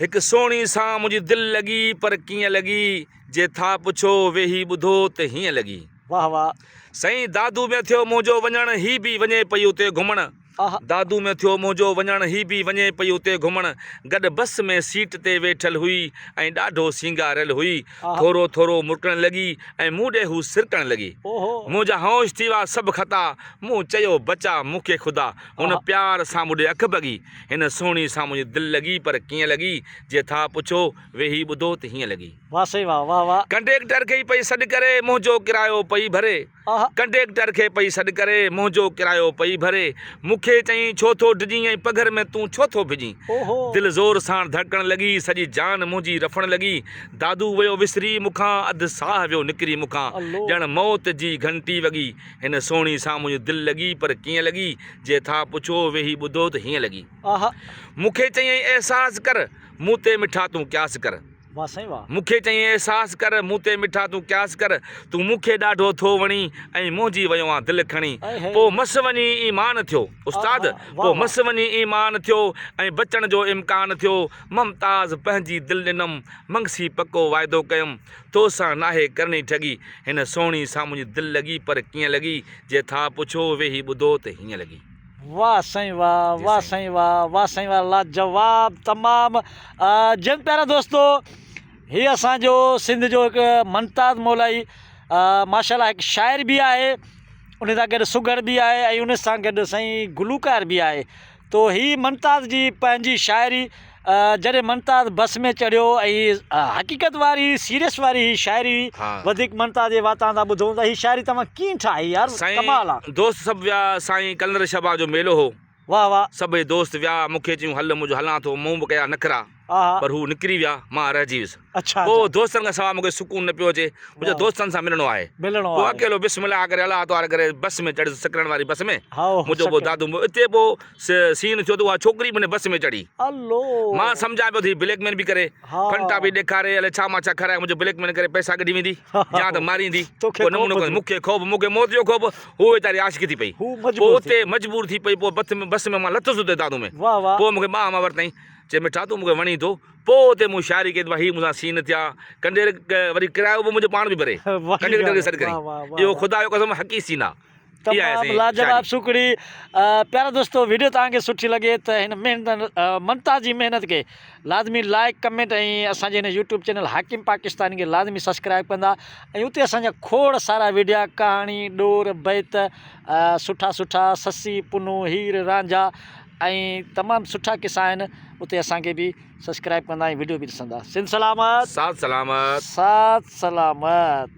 هڪ سهڻي سان منهنجي دل لڳي پر ڪيئن لڳي جي ٿا پڇو ويهي ٻڌو ته هيئن لڳي. واه واه. سائين دادو ۾ ٿيو منهنجو وڃڻ هي به وڃي پئي اتي گهمڻ آها. دادو ۾ ٿيو منهنجو وڃڻ هي به وڃي پئي اتي گهمڻ گڏ بس ۾ سيٽ تي ويٺل هئي ۽ ڏاڍو سينگاريل هئي آها. ٿورو ٿورو مرڪڻ لڳي ۽ مون ڏي هو سرڪڻ لڳي او هو. منهنجا هوش ٿي ويا سڀ خطا مون چيو بچا مون کي خدا هن آها. پيار سان مون ڏي اک ڀڳي. هن سهڻي سان منهنجي دل لڳي پر ڪيئن لڳي جي ٿا پڇو ويهي ٻڌو ته هيئن لڳي. واھ سائين واھ واھ واھ. ڪنڊيڪٽر کي پئي سڏ ڪري منهنجو ڪرايو پئي ڀري آھ. ڪنڊيڪٽر کي پئي سڏ ڪري منهنجو ڪرايو پئي ڀري مون کي چئين ڇو ٿو ڊڄين ۽ پگهر ۾ تون ڇو ٿو ڀڄين اوھو. دل زور ساڻ ڌڙڪڻ لڳي سڄي جان منهنجي رڦڻ لڳي دادو ويو وسري مون کان اڌ ساھ ويو نڪري مون کان الله. ڄڻ موت جي گهنٽي وڳي هن سهڻي سان منهنجي دل لڳي پر ڪيئن لڳي جي ٿا پڇو ويهي ٻڌو ته هيئن لڳي. مون کي چيائين احساس ڪر مون تي مٺا تون قياس ڪر. واھ سائين واھ. مون کي چيائين احساس ڪر مون تي مٺا تون قياس ڪر تون مون کي ڏاڍو ٿو وڻين ۽ موهجي ويو آن دل کڻي پو مس وڃي ايمان ٿيو استاد پو مس وڃي ايمان ٿيو ۽ بچڻ جو امڪان ٿيو ممتاز پنهنجي دل ڏنم منگسي پڪو واعدو ڪيم تو سان ناهي ڪرڻي ٺڳي. هن سهڻي سان منهنجي دل لڳي پر ڪيئن لڳي جي ٿا پڇو ويهي ٻڌو ته هيئن لڳي. واه سائين واه واه سائين واه واه سائين واه لاجواب تمام جيئن پيارا دوستو هي اسان جو سنڌ جو هڪ منتاز مولائي ماشاءالله هڪ شاعر به آهي ان سان گڏ سگهڙ به آهي ۽ ان سان گڏ سائين گلوڪار به آهي تو هي ممتاز جي پنهنجي شاعري جڏهن ممتاز بس ۾ چڙهيو ۽ حقيقت واري سيريس واري هي شاعري وڌيڪ ممتاز جي واتان ٿا ٻڌون ته هي شاعري توهان ڪيئن ٺاهي يار ڪمال آ. دوست سڀ ويا سائين ڪلندر شبان جو ميلو هو واھ واھ. سڀئي دوست ويا مونکي چيون هل منهنجو هلان ٿو مون به ڪيا نخرا. پر هو نڪري ويا، مان رهجي ويس. پوء دوستن کان سواء مون کي سڪون نه پيو اچي. مون چيو دوستن سان ملڻو آهي. پوء اڪيلو بسم الله ڪري الله اطهار ڪري بس ۾ چڙهيس سڪران واري بس ۾ منهنجو پوء دادو مون اتي پوء سين ٿيو ته اها ڇوڪري به ان بس ۾ چڙهي. مان سمجهان پيو ته هي بليڪ مين به ڪري، ڦنٽا به ڏيکاري الائي ڇا مان ڇا کارائي منهنجو بليڪ مين ڪري پئسا ڪڍي ويندي يا ته ماريندي. ڪو نمونو ڪونهي. مون کي خوف مون کي موت جو خوف هو ويچاري عاشقي ٿي پئي. پوء اتي مجبور ٿي پئي پوء بس ۾ مان لٿس اتي دادو ۾. پوء مون کي ٻانهن مان ورتائين. چي مٺا تون مونکي وڻين ٿو. پوء اتي مون شاعري ڪئي ته ڀاء هي مون سان سين ٿيا. ڪنڊير وري ڪرايو به منهنجو پاڻ به ڀري. ڪنڊير ڪري سڏ ڪرين. اهو خدا جو قسم حقي سين آ. تمام لاجواب سوکڙي پيارا دوستو ويڊيو توهان کي سٺي لڳي ته هن محنت منٽا جي محنت کي لازمي لائيڪ ڪمينٽ ۽ اسان جي هن يوٽيوب چينل حاڪم پاڪستاني کي لازمي سبسڪرائيب ڪندا ۽ اتي اسان جا کوڙ سارا ويڊيا ڪهاڻي ڏور بيت سٺا سٺا سسي پنو هير رانجها ۽ تمام سٺا قصا آهن اتي اسان کي به سبسڪرائب ڪندا ۽ وڊيو به ڏسندا سنڌ سلامت ساٿ سلامت ساٿ سلامت.